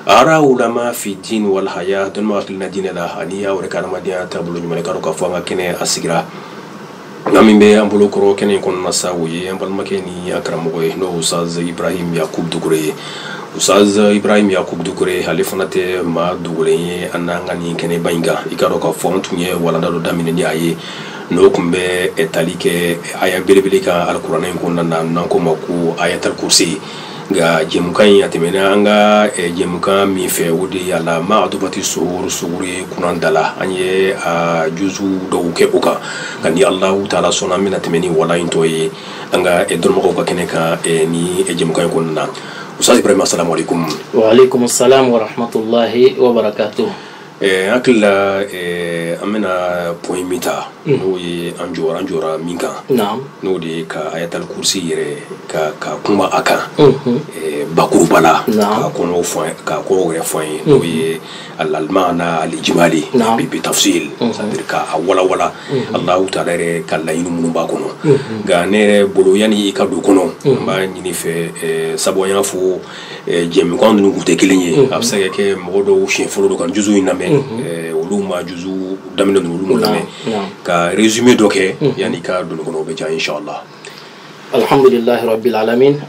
araw ulama fi din walhaya dɔnnibaga hakilina diinɛ la ani a yɛrɛ ka adamadenya taabolo ɲuman k'a dɔn k'a fɔ an ka kɛnɛ a sigira maa min bɛ an bolo kɔrɔ kɛnɛ in kɔnɔna sa o ye an balimakɛ ni an karamɔgɔ ye n'o usaz ibrahim yakub dukure ye usaz ibrahim yakub dukure ale fana tɛ maa dogolen ye an n'an ka nin kɛnɛba in kan i k'a dɔn k'a fɔ an tun ye walanda dɔ daminɛ ni a ye n'o tun bɛ tali kɛ aya belebele kan alikuranɛ in kɔnɔna na n'an k'o ma ko ayatal kursi nka jɛmukan in a tɛmɛna an ka eh, jɛmukan min fɛ o de ye a la ma adubati sohoro sohoro ye kuran da la an ye a juzu dɔw kɛ o kan nka ni alahu taala sɔnna an bɛna tɛmɛ ni wala in tɔ ye an ka eh, dɔnnibagaw ka kɛnɛ kan eh, ni eh, jɛmukan in kɔnɔna na ustaz ibrahima asalamu alaikum waaleykum salam warahmatullahi wabarakatuh eh, an hakili la eh, an bɛna point min ta mm. n'o ye an jɔra an jɔra min kan n'o de ye ka ayatal kursi yɛrɛ ka ka kuma a kan mm-hmm. eh, bakuruba la k'a kɔnɔw fɔ k'a kɔrɔw yɛrɛ fɔ an ye n'o mm-hmm. ye al almaana alijimali bi bi tafsir mm-hmm. c'est-à-dire ka a walawala alahu taala yɛrɛ ka laɲini minnu b'a kɔnɔ nka ne yɛrɛ bolo yanni i ka don a kɔnɔ n b'a ɲini i fɛ sabu an y'a fɔ jɛmukan ninnu tun tɛ kelen ye a bɛ se ka kɛ mɔgɔ dɔw siɲɛ fɔlɔ don ka juzu in lamɛn olu ma juzu daminɛ ninnu lamɛn ka résumé dɔ kɛ yanni ka don a kɔnɔ o bɛ diya inshala alihamdulilahi rabil alamin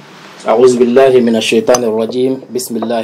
awuzu bilahi minal setani rajim bisimilah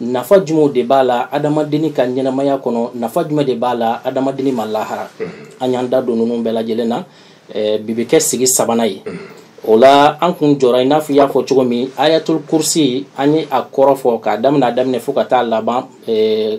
nafa jumɛnw de b'a la adamadenni ka ɲɛnamaya kɔnɔ nafa jumɛn de b'a la adamadenni ma lahara mm-hmm. an y'an da don ninnu bɛɛ lajɛlen na eh, bi bɛ kɛ sigi sabanan ye mm-hmm. o la an kun jɔra i n'a fɔ i y'a fɔ cogo min ayatul kursi an ye a kɔrɔ fɔ k'a daminɛ a daminɛ fo ka taa laban eh,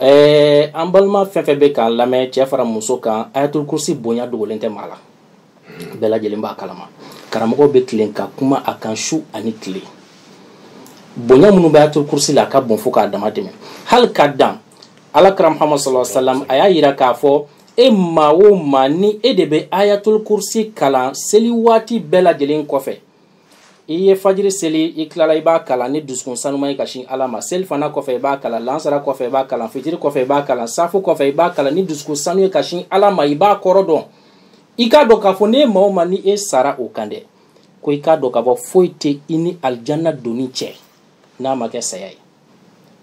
ɛɛ an balima fɛn fɛn bɛ k'an lamɛn cɛ fara muso kan ayatul kursi bonya dogolen tɛ maa la bɛɛ lajɛlen b'a kalama karamɔgɔw bɛ tilen ka kuma a kan su ani tile bonya minnu bɛ ayatul kursi la a ka bon fo k'a dama tɛmɛ hali ka dan ala kira muhammad sallallahu alaihi wa sallam a y'a yira k'a fɔ e maa o maa ni e de bɛ ayatul kursi kalan seli waati bɛɛ lajɛlen kɔfɛ i ye fajiri seli i tilala i b'a kalan ni dusukun sanuman ye ka sin ala ma selifana kɔfɛ i b'a kalan lansara kɔfɛ i b'a kalan fitiri kɔfɛ i b'a kalan safu kɔfɛ i b'a kalan ni dusukun sanu ye ka sin ala ma i b'a kɔrɔ dɔn i k'a dɔn k'a fɔ ni maa o maa ni e sara o kan dɛ ko i k'a dɔn k'a fɔ foyi tɛ i ni alijanna donni cɛ n'a ma kɛ saya ye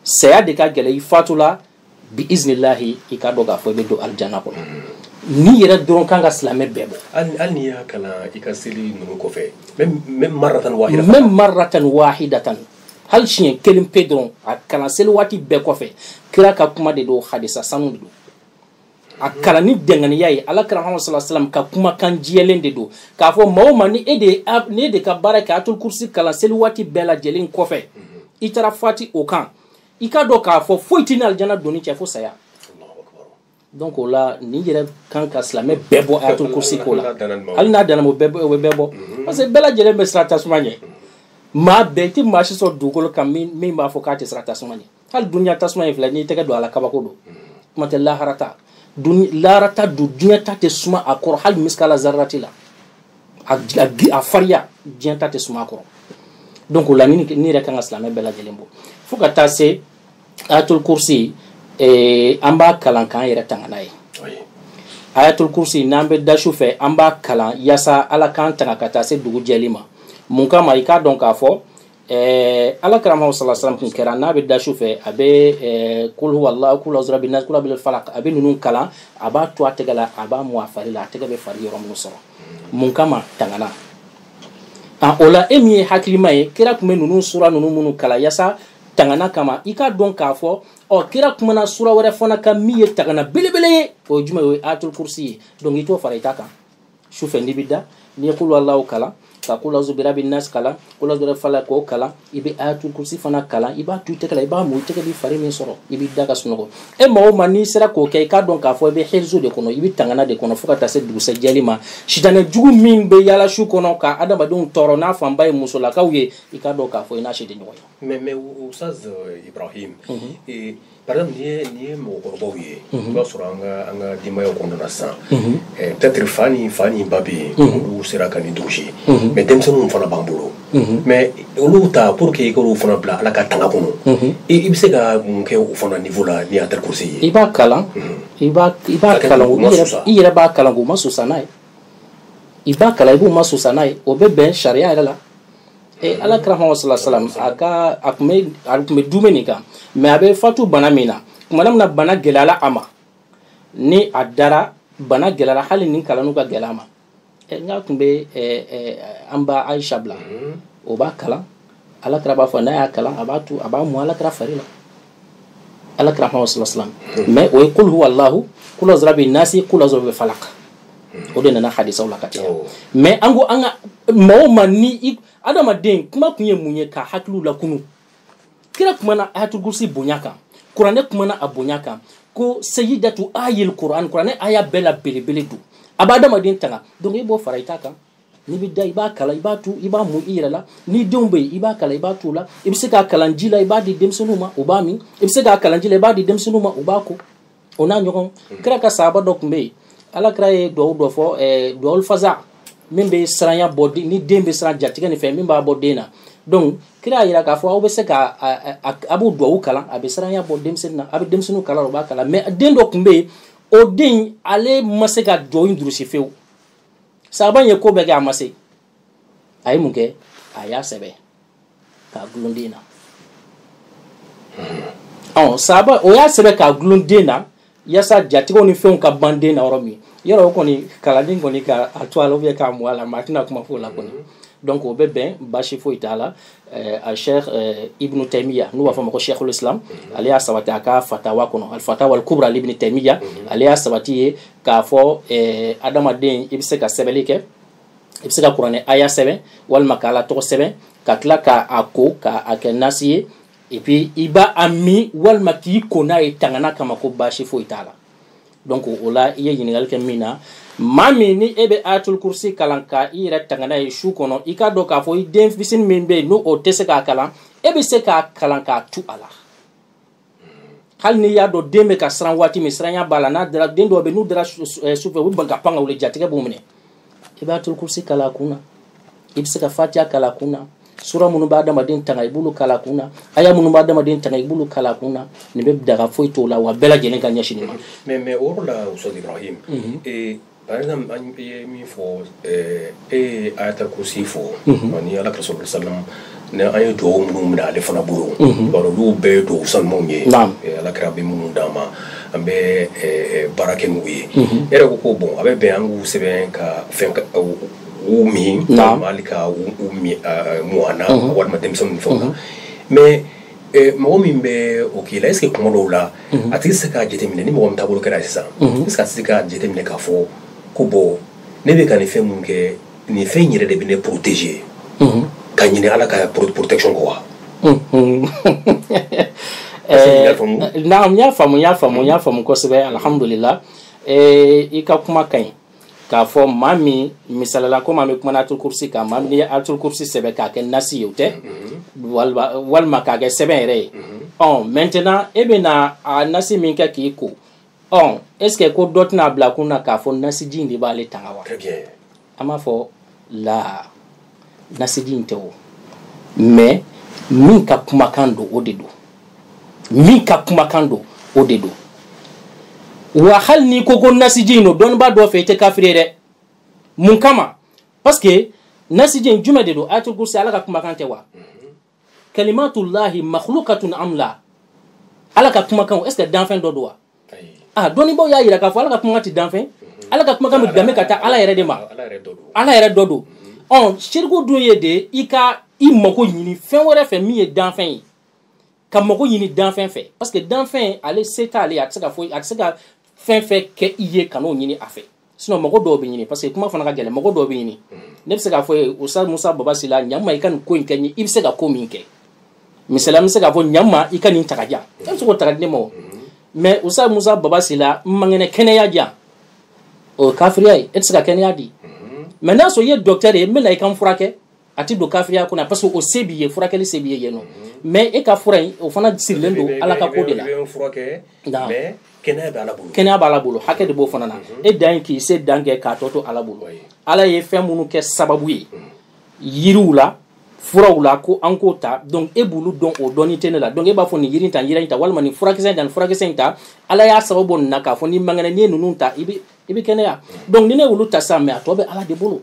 saya de ka gɛlɛn i fatula bi iznillahi i k'a dɔn k'a fɔ i bɛ don alijana kɔnɔ nin yɛrɛ dɔrɔn kan ka silamɛ bɛɛ bɔ hali n'i y'a kalan i ka seli ninnu kɔfɛ même maratan wahida même maratan wahidatan hali siɲɛ kelen pe dɔrɔn a kalan seli waati bɛɛ kɔfɛ kira ka kuma de don hadisa sanu de don a kalan ni dɛngɛnɛya ye ala kira muhammad sallallahu alaihi wasallam ka kumakan jɛlen de don k'a fɔ maa o maa ni e de ne de ka baara kɛ ayatul kursi kalan seli waati bɛɛ lajɛlen kɔfɛ i taara fatu o kan i k'a dɔn k'a fɔ foyi t'i ni alijana donni cɛ fo saya donc o la nin yɛrɛ kan ka silamɛ bɛɛ bɔ ayatul kursi ko la hali n'a danna o bɛ bɛɛ bɔ parce que bɛɛ lajɛlen bɛ siran tasuma ɲɛ maa bɛɛ i tɛ maa si sɔrɔ dugukolo kan min b'a fɔ k'a tɛ siran tasuma ɲɛ hali duniya tasuma in filɛ n'i tɛgɛ don a la kabako don kuma tɛ lahara ta lahara ta dun diɲɛ ta tɛ suma a kɔrɔ hali misikala zarati la a fariya diɲɛ ta tɛ suma a kɔrɔ donc o la nin yɛrɛ kan ka silamɛ bɛɛ lajɛlen bɔ fo ka taa se ayatul kursi eh, an b'a kalan k'an yɛrɛ tanga n'a ye ayatul kursi n'an bɛ da su fɛ an b'a kalan yaasa ala k'an tanga ka taa se dugu jɛli ma mun kama i k'a dɔn k'a fɔ Eh, ala kira muhammad sala salam kun kɛra n'a bɛ da su fɛ a bɛ eh, kul huwa allahu kulu azu rabin kula bɛ fala a bɛ ninnu kalan a b'a tu a tɛgɛ la a b'a mu a fari la a tɛgɛ bɛ fari yɔrɔ minnu sɔrɔ mun kama tangana a o la e min ye hakilima ye kira tun bɛ ninnu sura ninnu minnu kalan yaasa tangana kama i k'a dɔn k'a fɔ ɔ kira kumana sura wɛrɛ fana kan min ye tangana belebele ye o ye jumɛn ye o ye ayatul kursi ye donc i t'o fara i ta kan su fɛ n'i bɛ da n'i ye kul huwa allahu kalan ka kulu azu birabi nasi kalan kulu azu bira falak k'o kalan i bɛ ayatul kursi fana kalan i b'a tu i tɛgɛ la i b'a mu i tɛgɛ b'i fari min sɔrɔ i b'i da ka sunɔgɔ e maa o maa n'i sera k'o kɛ i k'a dɔn k'a fɔ i bɛ hirizu de kɔnɔ i bɛ tangana de kɔnɔ fo ka taa se dugusɛ jɛli ma sitanɛ jugu min bɛ yaala su kɔnɔ ka adamadenw tɔɔrɔ n'a fanba ye musolakaw ye i k'a dɔn k'a fɔ i n'a si tɛ ɲɔgɔn ye. mais mais Oustaz Ibrahim. Mhm. Par exemple, nin ye nin ye mɔgɔkɔrɔbaw ye. Mhm. I b'a sɔrɔ an ka an ka denbayaw kɔnɔna na sisan. Mhm. Eh, peut-être fa ni fa ni ba bɛ yen. Mhm. Olu sera ka nin durusi. Mais denmisɛnninw fana b'an bolo. Mais olu ta pour que i k'olu fana bila Ala ka tanga kɔnɔ. I i bɛ se ka mun kɛ o fana niveau la ni Ayatul Kursi ye? I b'a kalan. I b'a i b'a kalan u masusa. I yɛrɛ b'a kalan k'u masusa n'a ye. I b'a kalan i b'u masusa n'a ye. O bɛ bɛn sariya yɛrɛ la. Eh, ala kira muhammad sala salam a ka a tun bɛ a tun bɛ dumɛ nin kan mais a bɛ fatu bana min na tumana min na bana gɛlɛyala a ma ni a dara bana gɛlɛyala hali nin kalanni ka gɛlɛn a ma eh, nka a tun bɛ eh, an ba ayisa bila mhm. o b'a kalan ala kira b'a fɔ n'a y'a kalan a b'a tu a b'a mu ala kira fari la ala kira kuma sala salam mɛ o ye kul huwa allahu kul azu rabi nasi kul azu rabi falak o de nana hadisaw la ka caya mais an ko an ka mɔgɔw ma ni i adamaden kuma kun ye mun ye ka hakiliw lakunu kira kumana ayatul-kursi bonya kan kuranɛ kumana a bonya kan ko sayidatu ayil kuran kuranɛ aya bɛɛ la belebele don a b'a adamaden tanga donc i b'o fara i ta kan n'i bɛ da i b'a kalan i b'a tu i b'a mu i yɛrɛ la ni denw bɛ yen i b'a kalan i b'a tu u la i bɛ se k'a kalan ji la i b'a di denmisɛnninw ma u b'a min i bɛ se k'a kalan ji la i b'a di denmisɛnninw ma u b'a ko o n'a ɲɔgɔn mm. kira ka saaba dɔ tun bɛ yen ala kira ye duwawu dɔ fɔ eh, duwawu fasa min bɛ siranya bɔ ni den bɛ siran jatigɛ nin fɛn min b'a bɔ den na donc kira y'a jira k'a fɔ aw bɛ se ka a b'o duwawu kalan a bɛ siranya bɔ denmisɛnnin na a bɛ denmisɛnninw kalan u b'a kalan mais den dɔ tun bɛ yen o den ale ma se ka duwawu in durusi fewu saaba ye ko bɛɛ kɛ a ma se a ye mun kɛ a y'a sɛbɛ k'a gulon den na ɔ saaba o y'a sɛbɛ k'a gulon den na yasa jatigɛw ni fɛnw ka ban den na yɔrɔ min yɔrɔ o kɔni kalanni kɔni ka a tu a la ou bien k'a mu a la maa tɛna kuma fɔ o la kɔni donc o bɛ bɛn basi foyi t'a la Eh, al sheikh eh, ibnu taimiya n'u b'a fɔ ma ko sheikhul islam mhm. ale y'a sabati a ka fatawa kɔnɔ al fatawa al kubra li ibnu taimiya mhm. ale y'a sabati yen k'a fɔ eh, adamaden i bɛ se ka sɛbɛnni kɛ i bɛ se ka kuranɛ aya sɛbɛn walima ka ala tɔgɔ sɛbɛn ka tila ka a ko ka a kɛ nasi ye et puis i b'a a min walima k'i ko n'a ye tangana kama ko baasi foyi t'a la donc o la i ye ɲininkali kɛ min na maa min ni e bɛ ayatul kursi kalan ka i yɛrɛ tanga n'a ye su kɔnɔ i k'a dɔn k'a fɔ i den fitini min bɛ yen ni o tɛ se k'a kalan e bɛ se k'a kalan k'a tu a la hali n'i y'a dɔn den bɛ ka siran waati min siranya b'a la n'a dara den dɔw bɛ yen n'u dara sufɛ u bɛ ban ka pan ka wuli jatigɛ b'u minɛ i b'atul kursi kalan a kun na i bɛ se ka fatiya kalan a kun na sura minnu bɛ adamaden tanga i b'olu kalan a kun na aya minnu bɛ adamaden tanga i b'olu kalan a kun na nin bɛ daga foyi t'o la wa bɛɛ lajɛlen ka ɲɛsin nin ma. mais mais o yɔrɔ la Ustaz Ibrahim. Mhm. ee par exemple an ye min fɔ ee e ye ayatal kursi fɔ. ani Ala ka rasulu salam Ni an ye dugawu minnu minɛ ale fana bolo olu bɛɛ ye dugawu sanuw ye ala kira ye minnu d'an ma an bɛ baara kɛ n'olu ye e ko ko bon a bɛ bɛn an k'u sɛbɛn ka fɛn min ka mɔgɔana walima denmisɛnnin fɛn kan mɛ mɔgɔ min bɛ o k'i la est-ce kuma dɔw la a tɛ se k'a jateminɛ ni mɔgɔ taabolo kɛra sisan se ka se k'a jateminɛ k'a fɔ ko bɔ ne bɛ ka nin fɛn minnu kɛ nin fɛn in yɛrɛ de bɛ ne protéger ka ɲina ala ka protection kɔ wa naam n y'a faamu n y'a faamu n y'a faamu kosɛbɛ alhamdulila i ka kuma ka ɲi k'a fɔ maa min misali la komi an bɛ kuma na atul kursi kan maa min ye atul kursi sɛbɛn k'a kɛ nasi ye o tɛ walima k'a kɛ sɛbɛn yɛrɛ ye ɔ maintenant e bɛ na a nasi min kɛ k'i ko ɔ est ce que ko dɔ tɛna bila kun na k'a fɔ nasiji in de b'ale tanga wa an b'a fɔ la nasiji in tɛ wo mais min ka kumakan don o de don min ka kumakan don o de don wa hali n'i ko ko nasiji in don dɔnnibaa dɔ fɛ i tɛ kafiri ye dɛ mun kama parce que nasiji in jumɛn de don ayatul kursi ala ka kumakan tɛ wa kalimatullahi makhluqatun am la ala ka kumakanw est ce que danfɛn dɔ don wa ah dɔnnibaaw y'a yira k'a fɔ ala ka kumakan ti danfɛn ala ka kumakan bɛ danbe ka taa ala yɛrɛ de ma ala yɛrɛ dɔ don ɔ siriku dun ye de i ka i mago ɲini fɛn wɛrɛ fɛ min ye danfɛn ye ka mago ɲini danfɛn fɛ parce que danfɛn ale se t'ale a tɛ se ka foyi a tɛ se ka fɛn fɛn kɛ i ye kan'o ɲini a fɛ sinon mago dɔw bɛ ɲini parce que kuma fana ka gɛlɛn mago dɔw bɛ ɲini ne bɛ se k'a fɔ i ye ustaz musa baba sila ɲa n ma i ka nin ko in kɛ n ye i bɛ se ka ko min kɛ misali an bɛ se k'a fɔ ɲa n ma i ka nin ta k'a di yan e bɛ se k'o ta k'a di ne ma o mais ustaz musa baba sila n man kɛnɛ kɛnɛya di yan o ye kafiriya ye e tɛ se ka kɛnɛya di mais n'a sɔrɔ i ye docteur ye n bɛ na i ka n furakɛ a tɛ don kafiriya kɔnɔ parce que o se b'i ye furakɛli se b'i ye yen non mais e ka fura in o fana sirilen don ala ka ko de la kɛnɛya b'ala bolo hakɛ de b'o fana na e dan ye k'i se dan kɛ k'a tɔ to ala bolo ala ye fɛn minnu kɛ sababu ye yiriw la furaw la ko an k'o ta donc e b'olu dɔn o dɔnni tɛ ne la donc e b'a fɔ nin yiri ta yiri in ta walima nin furakisɛ in ta nin furakisɛ in ta ala y'a sababu bɔ nin na k'a fɔ n'i man kɛnɛ n'i ye ninnu ta i bɛ i bɛ kɛnɛya donc ni ne y'olu ta sisan mais a tɔ bɛ ala de bolo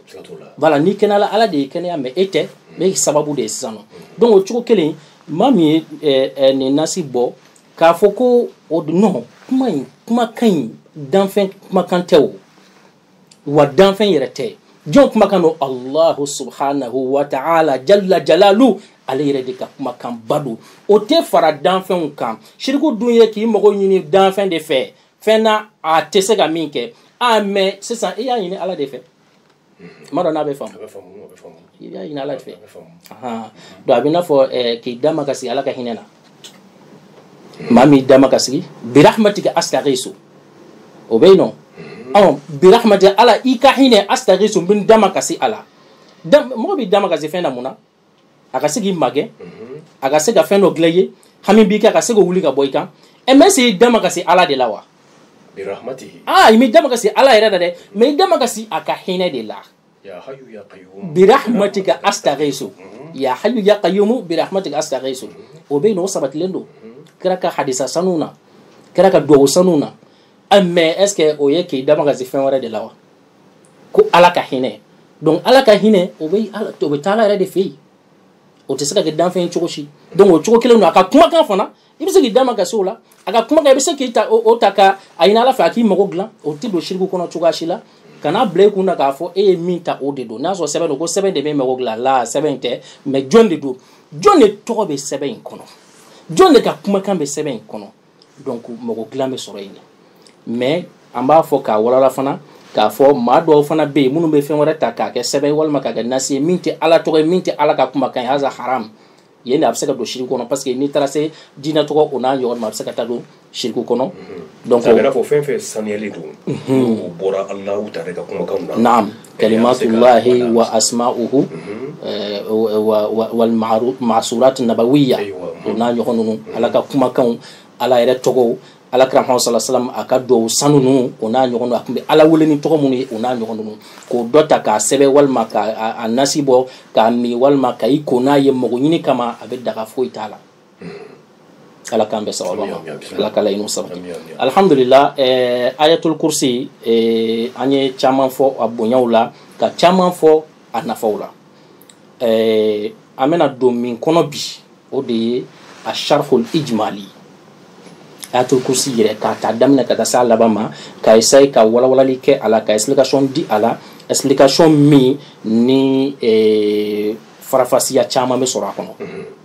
voilà n'i kɛnɛyala ala de y'i kɛnɛya mais e tɛ mm. ne sababu de ye sisan non mm. donc o cogo kelen maa min ye eh, eh, nin nasi bɔ k'a fɔ ko o non kuma in kumakan in danfɛn kumakan tɛ o wa danfɛn yɛrɛ tɛ jɔn kumakan don allahu subhanahu wa ta'ala jalla jalalu ale yɛrɛ de ka kumakanba don o tɛ fara danfɛnw kan siriku dun ye k'i mago ɲini danfɛn de fɛ fɛn na a tɛ se ka min kɛ a mais sisan i y'a ɲini ala de fɛ n m'a dɔn n'a bɛ faamu i y'a ɲini ala de fɛ donc a bɛn'a fɔ eh, k'i damakasi ala ka hinɛ na maa min damakasi birahmatika astaghisu o bɛ yen non ɔ birahmatika ala i ka hinɛ astaghisu n bɛ n damakasi a la mɔgɔ b'i damakasi fɛn na mun na a ka se k'i magɛn a ka se ka fɛn dɔ dilan i ye hami b'i kan a ka se k'a wuli ka bɔ i kan ɛ mais est ce i damakasi ala de la wa aa i m'i damakasi ala yɛrɛ la dɛ mais i damakasi a ka hinɛ de la birahmatika astaghisu ya hayu ya qayyumu birahmatika astaghisu o bɛ yen non o sabatilen don kira ka hadisa sanu na kira ka duwawu sanu na mais est ce que o ye k'i damakasi fɛn wɛrɛ de la wa ko ala ka hinɛ donc ala ka hinɛ o bɛ ala o bɛ taa ala yɛrɛ de fɛ yen o tɛ se ka kɛ danfɛn ye cogo si donc o cogo kelen don a ka kumakan fana i bɛ se k'i damakasi o la a ka kumakan i bɛ se k'i ta o ta ka a ɲini ala fɛ a k'i mago dilan o tɛ don siriku kɔnɔ cogoya si la kana bila i kun na k'a fɔ e ye min ta o de don n'a sɔrɔ sɛbɛn don ko sɛbɛn de bɛ mago dilan la sɛbɛn tɛ mais jɔn de don jɔn de tɔgɔ bɛ sɛbɛn in kɔnɔ jɔn de ka kumakan bɛ sɛbɛn in kɔnɔ donc mago dilan bɛ sɔrɔ yen de mais an b'a fɔ k'a walawala fana k'a fɔ maa dɔw fana bɛ yen minnu bɛ fɛn wɛrɛ ta k'a kɛ sɛbɛn walima k'a kɛ nasi ye min tɛ ala tɔgɔ ye min tɛ ala ka kumakan ye haza haram yen de a bɛ se ka don shiriki kɔnɔ parce que n'i taara se jinɛ tɔgɔ o n'a ɲɔgɔn ma a bɛ se ka taa don shiriki kɔnɔ. Mhm. donc a bɛ n'a fɔ fɛn fɛn saniyalen don. Mhm. n'o bɔra alahu taala ka kumakanw na. naam Kalimatulahi wa asma'uhu wal ma'surati nabawiya o n'a ɲɔgɔn ninnu ala ka kumakanw ala yɛrɛ tɔgɔw ala kira salalahu alayhi wasalam a ka dugawu sanu ninnu o n'a ɲɔgɔn a tun bɛ ala wele ni tɔgɔ minnu ye o n'a ɲɔgɔn ninnu k'o dɔ ta k'a sɛbɛn walima k'a nasi bɔ k'a min walima ka i ko n'a ye mago ɲini kama a bɛ daga foyi t'a la ala k'an bɛn sababu ma ala ka laɲiniw sabati alhamdulila eh, ayatul kursi eh, an ye caman fɔ a bonyaw la ka caman fɔ a nafaw la eh, an bɛna don min kɔnɔ bi o de ye a sharhul ijmali ayatul kursi yɛrɛ k'a ta daminɛ ka taa se a laban ma ka essayer ka walawalali kɛ a la ka explication di a la explication min ni eh, faranfasiya caman bɛ sɔrɔ a kɔnɔ mm -hmm.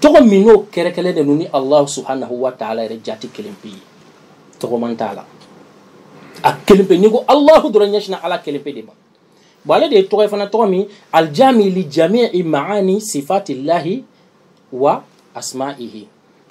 tɔgɔ min n'o kɛrɛnkɛrɛnnen de don ni alahu subhanahu wa taala yɛrɛ jati kelen pe ye tɔgɔman t'a la a kelen pe n'i ko alahu dɔrɔn ɲɛsinna ala kelen pe de ma bon ale de ye tɔgɔ ye fana tɔgɔ min aljami li jamii maani sifatillahi wa asma'ihi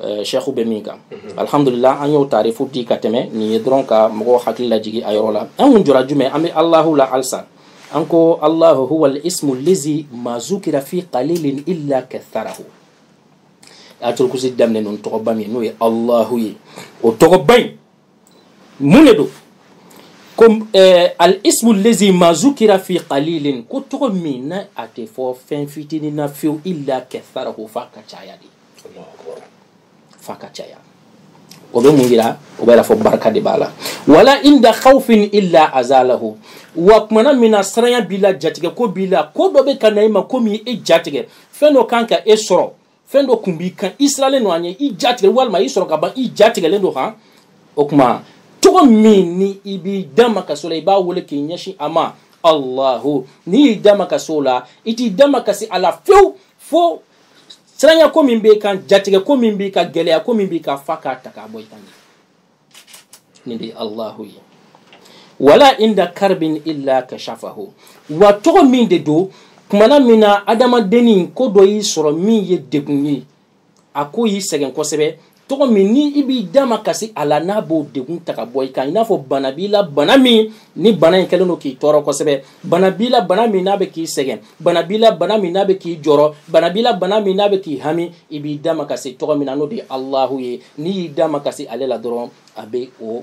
sɛku bɛ min kan alihamdulila an y'o tarifu di ka tɛmɛ nin ye dɔrɔn ka mɔgɔw hakili lajigi a yɔrɔ la an kun jɔra jumɛn an bɛ alahu la halisa an ko alahu huwa ismu lazi ma zukira fi qalilin illa katharahu ayatul kursi daminɛna ni tɔgɔba min n'o ye alahu ye o tɔgɔba in mun de don ko eh, al ismu lazi ma zukira fi qalilin ko tɔgɔ min n'a tɛ fɔ fɛn fitinin na fiyewu illa katharahu f'a k'a caya de f'a ka caya o bɛ mun yira o b'a yira fɔ barika de b'a la wala inda khawfin illa azalahu wa tumana min na siranya b'i la jatigɛ ko b'i la ko dɔ bɛ ka na i ma ko min e jatigɛ fɛn dɔ kan ka e sɔrɔ fɛn dɔ kun b'i kan i sirannen don a ɲɛ i jatigɛ walima i sɔrɔ ka ban i jatigɛlen don kan o tuma tɔgɔ min ni i b'i damakasi o la i b'a wele k'i ɲɛsin a ma allahu n'i y'i damakasi o la i t'i damakasi ala fewu fo siranya ko min b'i kan jatigɛ ko min b'i kan gɛlɛya ko min b'i kan f'a k'a ta k'a bɔ i kan nin de ye alahu ye wala inda karbin illa kashafahu wa tɔgɔ min de don tumana min na adamadennin ko dɔ y'i sɔrɔ min ye degun ye a ko y'i sɛgɛn kosɛbɛ tɔgɔ min ni i b'i damakasi a la n'a b'o degun ta ka bɔ i kan i n'a fɔ bana b'i la bana min ni bana in kɛlen don k'i tɔɔrɔ kosɛbɛ bana b'i la bana min n'a bɛ k'i sɛgɛn bana b'i la bana min n'a bɛ k'i jɔrɔ bana b'i la bana min n'a bɛ k'i hami i b'i damakasi tɔgɔ min na n'o de ye alahu ye n'i y'i damakasi ale la dɔrɔn a bɛ o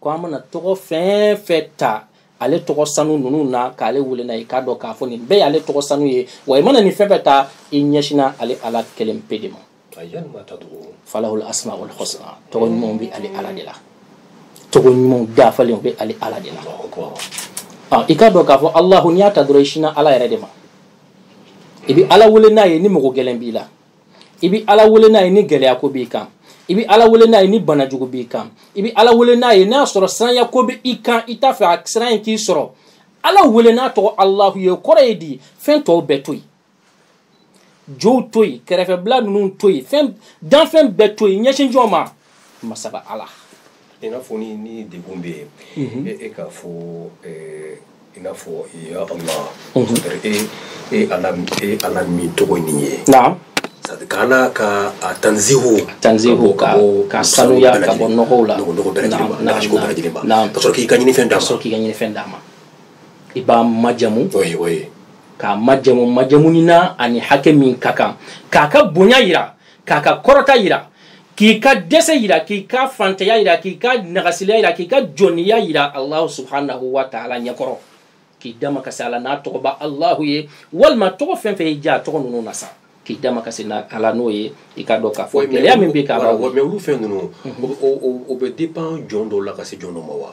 ko an mana tɔgɔ fɛn fɛn ta ale tɔgɔ sanu ninnu na k'ale wele n'a ye k'a dɔn k'a fɔ nin bɛɛ y'ale tɔgɔ sanu ye wa i mana nin fɛn fɛn ta i ɲɛsinna ale ala kelen pe de ma falahul asmaul husna tɔgɔ ɲumanw bɛ ale ala de la tɔgɔ ɲumanw dafalenw bɛ ale ala de la i k'a dɔn k'a fɔ alahu n'i y'a ta dɔrɔn i sinna ala yɛrɛ de ma i bɛ ala wele n'a ye ni mago gɛlɛn b'i la i bɛ ala wele n'a ye ni gɛlɛya ko b'i kan i bɛ ala wele n'a ye ni bana jugu b'i kan i bɛ ala wele n'a ye n'a sɔrɔ siranya ko bɛ i kan i t'a fɛ a siran in k'i sɔrɔ ala wele n'a tɔgɔ alahu ye o kɔrɔ ye di fɛn tɔw bɛɛ to yen jow to yen kɛrɛfɛbila ninnu to yen fɛn danfɛn bɛɛ to yen ɲɛsin jɔn ma masaba ala i n'a fɔ ni ni degun bɛ yen mhm. e, e k'a fɔ eh, i n'a fɔ ya allah mhm. e e ala e ala min tɔgɔ nin ye ka na k'a tanzihu tanzihu ka k'a sanuya ka bɔ nɔgɔw la nɔgɔ nɔgɔ bɛɛ lajɛlen ma nɔgɔ bɛɛ lajɛlen ma ka sɔrɔ k'i ka ɲinifɛn d'a ma ka sɔrɔ k'i ka ɲinifɛn d'a ma i b'a majamu oye oye k'a majamu majamunina ani hakɛ min ka kan k'a ka bonya yira k'a ka kɔrɔta yira k'i ka dɛsɛ yira k'i ka fantanya yira k'i ka nagasiliya yira k'i ka jɔniya yira alahu subhanahu wa taala ɲɛkɔrɔ k'i damakasi ala n'a tɔgɔ ba alahu ye walima tɔgɔ fɛn fɛn y'i diya a tɔgɔ ninnu na sa k'i damakasi ala n'o ye i k'a dɔn k'a fɔ gɛlɛya min bɛ k'a la mɛ olu fɛn ninnu o bɛ dépend jɔn dɔw la ka se jɔn dɔ ma wa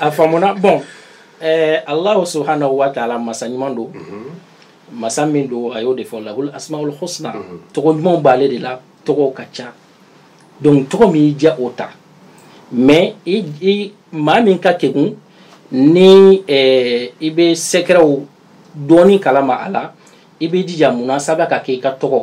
a faamuna bon eh, allahu subhanahu wa taala masa ɲuman don masa min don a y'o de fɔ lahul asmaul husna tɔgɔ ɲumanw b'ale de la tɔgɔw ka ca donc tɔgɔ min y'i diya o ta mais i, i maa min ka kegun ni eh, i bɛ sɛkɛrɛw dɔɔni kalama a la i bɛ jija mun na saba ka kɛ i ka tɔgɔ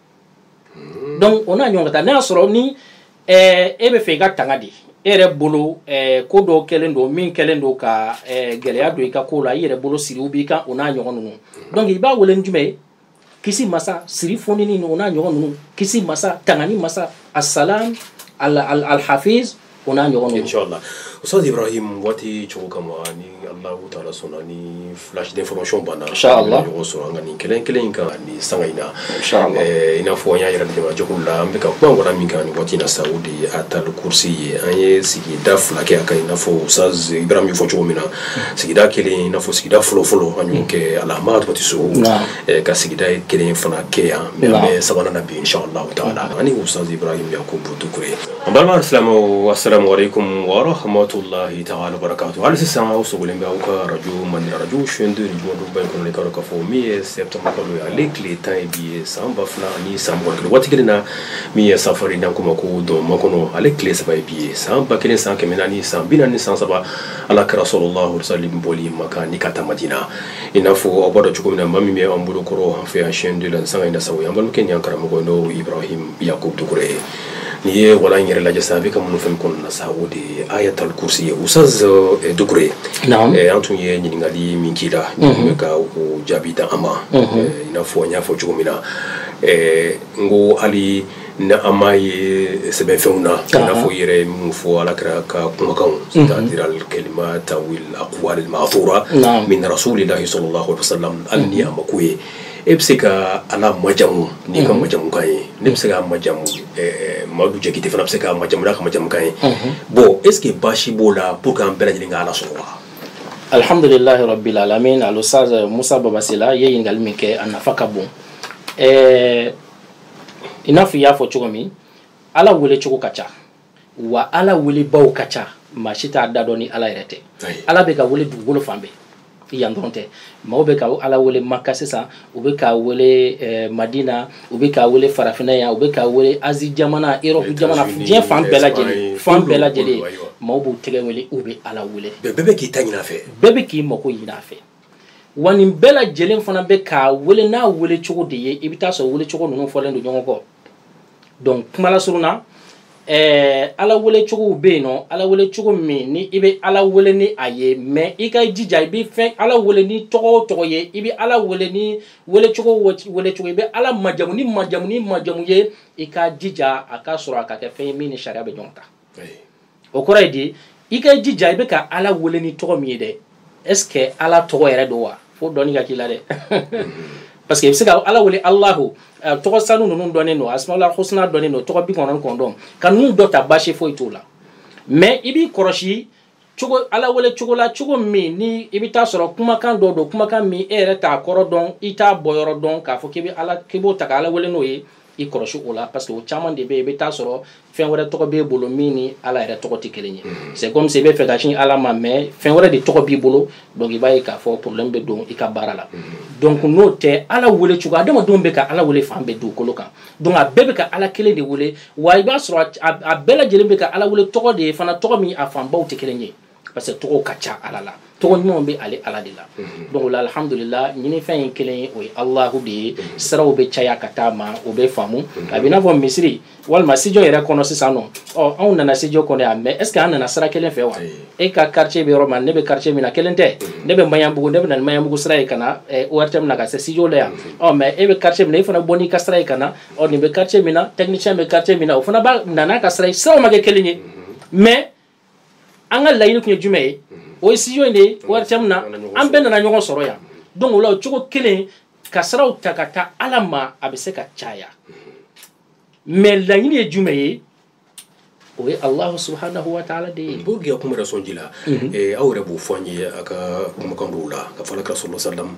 hmm. donc o n'a ɲɔgɔn ka taa n'a y'a sɔrɔ ni eh, e b'a fɛ i ka tanga de e yɛrɛ bolo eh, ko dɔ kɛlen don min kɛlen don ka eh, gɛlɛya don i ka ko la i yɛrɛ bolo siriw b'i kan o n'a ɲɔgɔn ninnu hmm. donc i b'a wele ni jumɛn ye kisi masa siri fonini o n'a ɲɔgɔn ninnu kisi masa tangani masa assalam alhafiz o n'a ɲɔgɔn inshallah ustaz ibrahim waati cogo kama ni allahu taala sɔnna ni flash d'information banna inshallah ɲɔgɔn sɔrɔ an ka nin kelen kelen in kan ni sanga in na inshallah eh, i n'a fɔ an y'a yira dɛmɛ jɛkulu la an bɛ ka kuma ngɔna min kan nin waati in na sa o de ye ayatal kursi ye an ye sigida fila kɛ a kan i n'a fɔ ustaz ibrahim y'a fɔ cogo min na sigida kelen i n'a fɔ sigida fɔlɔfɔlɔ an y'o kɛ alahama tɔgɔti so eh, ka sigida ye kelen fana kɛ yan mɛ an bɛ sabanan na bi inshallah taala ani ustaz ibrahim yakubu dukure An balima silamɛw assalamu aleyikumu wa rahamatulahi taala wa barakatuhu hali sisan aw sɔrɔlen bɛ aw ka arajo Mali la arajo chaine 2 jumaba in kɔnɔ i k'a dɔn k'a fɔ min ye septembre kalo ye ale tile tan ye bi ye san ba fila ani san mugan ni kelen waati kelen na min ye safari n'an k'o ma ko dɔnba makɔnɔ ale tile saba ye bi ye san ba kelen san kɛmɛ naani san bi naani ni san saba ala kira sallallahu alaihi wasallam bɔli maka ni ka taa madina i n'a fɔ aw b'a dɔn cogo min na maa min bɛ an bolo kɔrɔ an fɛ yan chaine 2 la nin sanga in na sa o ye an balimakɛ ni an karamɔgɔ n'o ye ibrahim yakubu dukure ye n'i ye walan in yɛrɛ lajɛ sisan a bɛ ka minnu fɛn kɔnɔna na sa o de ye ayatal kursi ye ustaz eh, dukure ye Naam. Eh, an tun ye ɲininkali min k'i la i tun bɛ ka o jaabi di an ma Eh, i n'a fɔ n y'a fɔ cogo min na eh, n ko hali ni an m'a ye sɛbɛnfɛnw na i n'a fɔ i yɛrɛ ye minnu fɔ ala kira ka kumakanw c'est-à-dire alkalimat aw al aqwal ma'thura Naam. min rasulillahi sallallahu alaihi wasallam hali ni a ma k'o ye e bɛ se ka ala majamu n'i ka majamukan ye ne bɛ se k'a majamu madu jakite fana bɛ se k'a majamu n'a ka majamukan ye bon est-ce que baasi b'o la pour que an bɛɛ lajɛlen ka ala sɔrɔ wa alihamdulilahi rabil alamini al ustaz musa baba sila ye ɲininkali min kɛ a nafa ka bon i n'a fɔ i y'a fɔ cogo min ala wele cogo ka ca wa ala welebaw ka ca maa si t'a da dɔn ni ala yɛrɛ tɛ ala bɛ ka wele dugukolo fan bɛɛ yan dɔrɔn tɛ maaw bɛ ka ala wele maka sisan u bɛ k'a wele eh, madina u bɛ k'a wele farafinna yan u bɛ k'a wele azi jamana erɔpu jamana diɲɛ fan bɛɛ lajɛlen fan bɛɛ lajɛlen maaw b'u tigi wele u bɛ ala wele bɛɛ bɛ k'i ta ɲin'a fɛ bɛɛ bɛ k'i mako ɲin'a fɛ wa nin bɛɛ lajɛlen fana bɛ k'a wele n'a wele cogo de ye i bɛ t'a sɔrɔ wele cogo ninnu fɔlen don ɲɔgɔn kɔ donc kuma lasurun na ɛɛ ala wele cogow bɛ yen nɔ ala wele cogo min ni i bɛ ala wele ni a ye mɛ i ka jija i bɛ fɛn ala wele ni tɔgɔ o tɔgɔ ye i bɛ ala wele ni wele cogo o wele cogo i bɛ ala majamu ni majamu ni majamu ye i ka jija a ka sɔrɔ a ka kɛ fɛn ye min ni sariya bɛ ɲɔgɔn ta o kɔrɔ ye di i ka jija i bɛ ka ala wele ni tɔgɔ min ye dɛ est-ce que ala tɔgɔ yɛrɛ don wa fo dɔnni ka k'i la dɛ parce que i bɛ se ka ala wele alahu eh, tɔgɔ sanu ninnu dɔnnen don asmaul husna dɔnnen don tɔgɔ bi kɔnɔntɔn kɔnɔntɔn ka ninnu dɔ ta baasi foyi t'o la mais i b'i kɔlɔsi cogo ala wele cogo la cogo min ni i bɛ taa sɔrɔ kumakan dɔ don kumakan min e yɛrɛ t'a kɔrɔ dɔn i t'a bɔyɔrɔ dɔn k'a fɔ k'i bɛ ala k'i b'o ta ka ala wele n'o ye i kɔlɔsi o la parce que o caman de bɛ yen i bɛ taa sɔrɔ fɛn wɛrɛ tɔgɔ b'e bolo min ni ala yɛrɛ tɔgɔ tɛ kelen ye mm. c'est comme si i bɛ fɛ ka sin ala ma mais fɛn wɛrɛ de tɔgɔ b'i bolo donc i b'a ye k'a fɔ problème bɛ don i ka baara la mm. donc n'o tɛ ala wele cogo adamadenw bɛ ka ala wele fan bɛɛ dugukolo kan donc a bɛɛ bɛ ka ala kelen de wele wa i b'a sɔrɔ a bɛɛ lajɛlen bɛ ka ala wele tɔgɔ de ye fana tɔgɔ min a fanbaw tɛ kelen ye parce que tɔgɔw ka ca ala la tɔgɔ ɲumanw bɛ ale ala de la mhm. donc o la alhamdulila ɲinifɛn ye kelen ye o ye alahu de ye mhm. siraw bɛ caya ka taa a ma o bɛ faamu mhm. a bɛ i n'a fɔ misiri walima studio yɛrɛ kɔnɔ sisan nɔ ɔ anw nana studio kɔnɔ yan mais est ce que an nana sira kelen fɛ wa e ka quartier bɛ yɔrɔ min na ne bɛ quartier min na kelen tɛ ne bɛ maɲanbugu ne bɛ na ni maɲanbugu sira ye ka na ortm na ka se studio la yan ɔ mais e bɛ quartier min na e fana bɔ n'i ka sira ye ka na ɔ nin bɛ quartier min na technicien bɛ quartier min na o fana bɛ na n'a ka sira ye siraw ma kɛ kelen ye mais an ka laɲini tun ye jumɛn ye o ye studio in de ye ortm na an bɛɛ nana ɲɔgɔn sɔrɔ yan donc o la o cogo kelen ka siraw ta ka taa ala ma a bɛ se ka caya mais laɲini ye jumɛn ye o ye alahu subhanahu wa taala de ye b'o gɛn kuma yɛrɛ sɔn ji la aw yɛrɛ b'o fɔ an ye a ka kumakan dɔw la ka fɔ ala ka sɔrɔ salam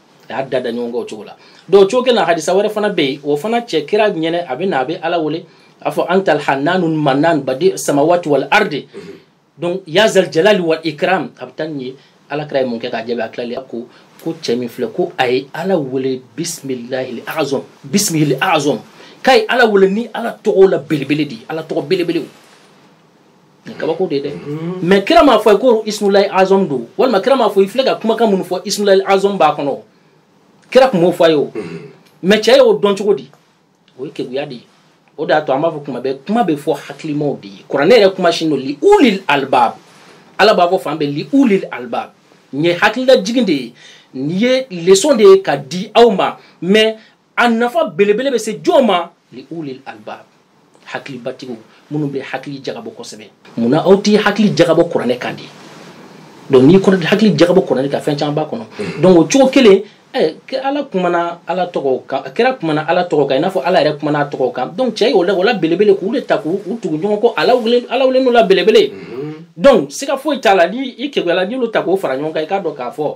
a y'a dada ɲɔgɔn kɔ o cogo la donc cogo kelen na hadisa wɛrɛ fana bɛ yen o fana cɛ kira ɲɛna a bɛ na a bɛ ala wele a fɔ antal hananu manan badi samawati wal ardi donc ya zal jalali wal ikram a bɛ taa nin ye ala kira ye mun kɛ k'a jaabi a tilala ko ko cɛ min filɛ ko a ye ala wele bisimilahi azɔm bisimilahi azɔm k'a ye ala wele ni ala tɔgɔ la belebele de ye ala tɔgɔ belebelew kabako de dɛ mm. mais kira m'a fɔ a ye ko ismulahi azɔm don walima kira m'a fɔ i filɛ ka kumakan minnu fɔ ismulahi azɔm b'a kɔnɔ kira tun m'o fɔ a ye o mm. mais cɛ y'o dɔn cogo di o ye keguya de ye o de y'a to an b'a fɔ tuma bɛɛ kuma bɛ fɔ hakilimaw de ye kuranɛ yɛrɛ kuma sinnen don li ulil albab ala b'a fɔ fan bɛɛ li ulil albab nin ye hakililajigin de ye nin ye leçon de ye ka di aw ma mais a nafa belebele bɛ se jɔn ma li ulil albab hakilibatigiw minnu bɛ hakili jagabɔ kosɛbɛ mun na aw tɛ hakili jagabɔ kuranɛ kan de donc n'i kɔni hakili jagabɔ kuranɛ kan fɛn caman b'a kɔnɔ mm. donc o cogo kelen eh, ala kumana ala tɔgɔ kan kira kumana ala tɔgɔ kan i n'a fɔ ala yɛrɛ kumana a tɔgɔ kan donc cɛ y'o la o la belebele k'u de ta k'u tugu ɲɔgɔn kɔ ala wele ala wele n'o la belebele mm. donc siga foyi t'a la ni i keguyala n'i y'olu ta k'o fara ɲɔgɔn kan i k'a dɔn k'a fɔ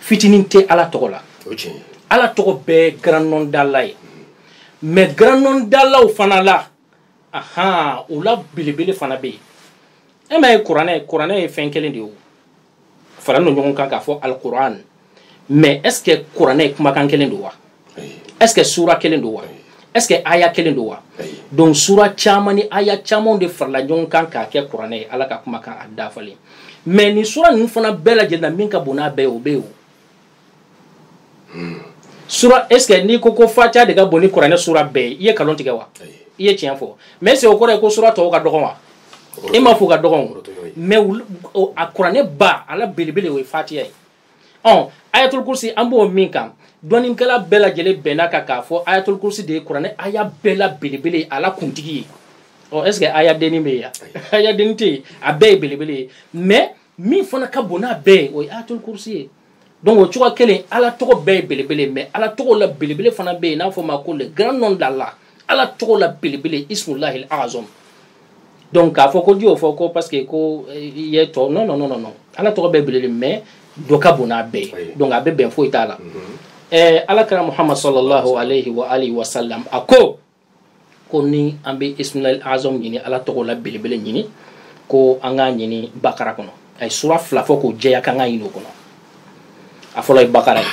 fitinin tɛ ala tɔgɔ la ala tɔgɔ bɛɛ grand nom d'Allah ye mais grand nom d'Allahw fana la ahan o la belebele fana bɛ yen e m'a ye kuranɛ kuranɛ ye fɛn kelen de ye o faralen don ɲɔgɔn kan k'a fɔ alikuran mais est ce que kuranɛ ye kumakan kelen don wa est-ce que sura kelen don wa est ce que aya kelen don wa donc sura caman ni aya camanw de farala ɲɔgɔn kan k'a kɛ kuranɛ ye ala ka kumakan a dafalen mais nin sura ninnu fana bɛɛ lajɛlen na min ka bon n'a bɛɛ ye o bɛ yen o hmm. sura est ce que n'i ko ko fatiya de ka bon ni kuranɛ sura bɛɛ ye i ye kalon tigɛ wa i ye tiɲɛ fɔ mais est ce que o kɔrɔ ye ko sura tɔw ka dɔgɔn wa e m'a fɔ o ka dɔgɔn o mais a kuranɛ ba a la belebele o ye fatiya ye ɔ ayatul kursi an b'o min kan dɔnnikɛla bɛɛ lajɛlen bɛnna kan k'a fɔ ayatul kursi de ye kuranɛ aya bɛɛ la belebele ye a la kuntigi ye ɔ est ce que aya denni bɛ yen aya denni tɛ yen a bɛɛ ye belebele ye mais min fana ka bon n'a bɛɛ ye o ye ayatul kursi ye donc o cogoya kelen ala tɔgɔ bɛɛ ye belebele ye mais ala tɔgɔ la belebele fana bɛ yen n'a fɔ ma ko le grand nom d'Allah ala tɔgɔ la belebele ismulahi azɔm donc k'a fɔ ko n'i y'o fɔ ko parce que ko eh, i ye tɔ non non non non ala tɔgɔ bɛɛ belebele mais dɔ ka bon n'a bɛɛ ye donc a bɛ bɛn foyi t'a la ɛɛ mhm. eh, ala kira muhammad sallallahu alayhi wa alihi wa sallam a ko ko ni an bɛ ismulahi azɔm ɲini ala tɔgɔ la belebele ɲini ko an k'a ɲini bakara kɔnɔ a ye sura fila fɔ k'o jɛya k'an k'a ɲini o kɔnɔ a fɔlɔ ye bakara ye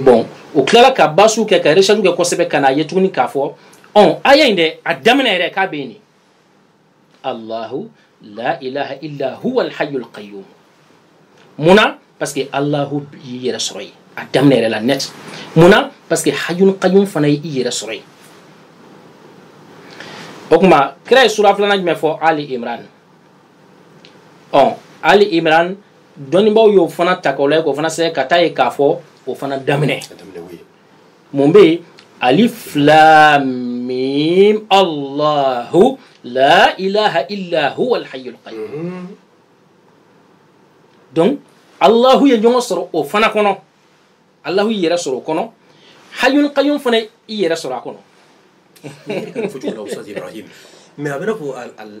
bon o tilala ka bahsu kɛ ka recherche kɛ kosɛbɛ ka n'a ye tuguni k'a fɔ ɔn aya in dɛ a daminɛ yɛrɛ k'a bɛ yen de allahu la ilaha illa huwa alhayyul qayyum mun na parce que allahu y'i yɛrɛ sɔrɔ yen a daminɛ yɛrɛ la net mun na parce que hayyul qayyum fana ye i yɛrɛ sɔrɔ yen o tuma kira ye sura filanan jumɛn fɔ ali imran ɔ ali imran dɔnnibaaw y'o fana ta k'o lajɛ k'o fana sɛbɛn ka t'a ye k'a fɔ o fana daminɛ mun bɛ yen alif lam mim allahu la ilaha illa huwa alhayyul qayyum mhm. donc allahu ye ɲɔgɔn sɔrɔ o fana kɔnɔ allahu y'i yɛrɛ sɔrɔ o kɔnɔ hayyul qayyum fana y'i yɛrɛ sɔrɔ a kɔnɔ mais a bɛna ko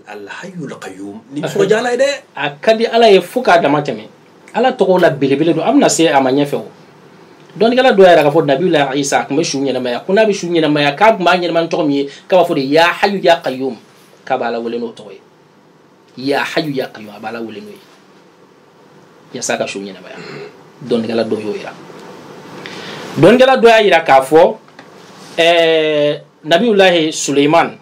alhayyul qayyum ni nisɔndiya ala ye dɛ a ka di ala ye fo k'a dama tɛmɛ ala tɔgɔ la belebele don an bɛna se a ma ɲɛfɛ o dɔnnikɛla dɔ yɛrɛ k'a fɔ nabiyullahi isa a tun bɛ su ɲɛnamaya ko n'a bɛ su ɲɛnamaya k'a tun b'a ɲɛnama ni tɔgɔ min ye k'a b'a fɔ de ya hayyu ya qayyum k'a b'ala wele n'o tɔgɔ ye ya hayu ya qayyum a b'ala wele n'o ye yasa ka ko ɲɛnabɔ a ye dɔnnikɛla dɔ y'o yira dɔnnikɛla dɔ y'a yira k'a fɔ eh, nabiyulahi suleiman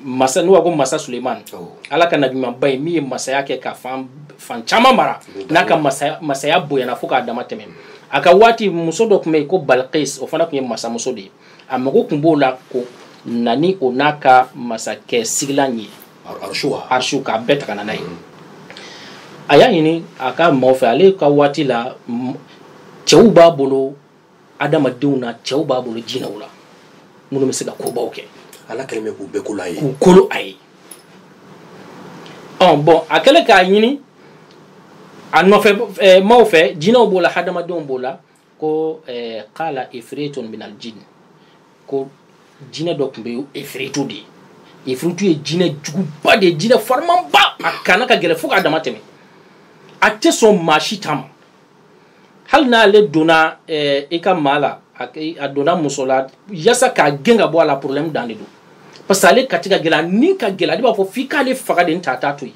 masa n'u b'a ko masa suleiman ala ka nabimanba ye min ye masaya kɛ ka fan fan caman mara n'a ka masaya, masaya bonyana fo k'a dama tɛmɛ a ka waati muso dɔ tun bɛ yen ko balkis o fana tun ye masamuso de ye a mago tun b'o la ko na ni o n'a ka masakɛ sigilan ye arsu k'a bɛɛ ta ka na n'a ye a y'a ɲini a ka maaw fɛ ale ka waati la cɛw b'a bolo adamadenw na cɛw b'a bolo jinɛw la minnu bɛ se ka kobaw kɛ ala kɛlen bɛ k'u bɛɛ kolo a ye k'u kolo a ye ɔn bɔn a kɛlen k'a ɲini a nɔfɛ maaw fɛ jinɛw b'o la hadamadenw b'o la ko eh, kala efretun minal jin ko jinɛ dɔ tun bɛ efretu de ye efretu ye jinɛ juguba de ye jinɛ farimanba a kana ka gɛlɛ fo k'a dama tɛmɛ a tɛ sɔn maa si ta ma hali n'ale donna eh, i ka maa la a donna muso la yasa k'a gɛn ka bɔ a la problème dan de don parce que ale kati ka gɛlɛ a ni ka gɛlɛ ale b'a fɔ f'i k'ale faga de n tɛ a t'a to yen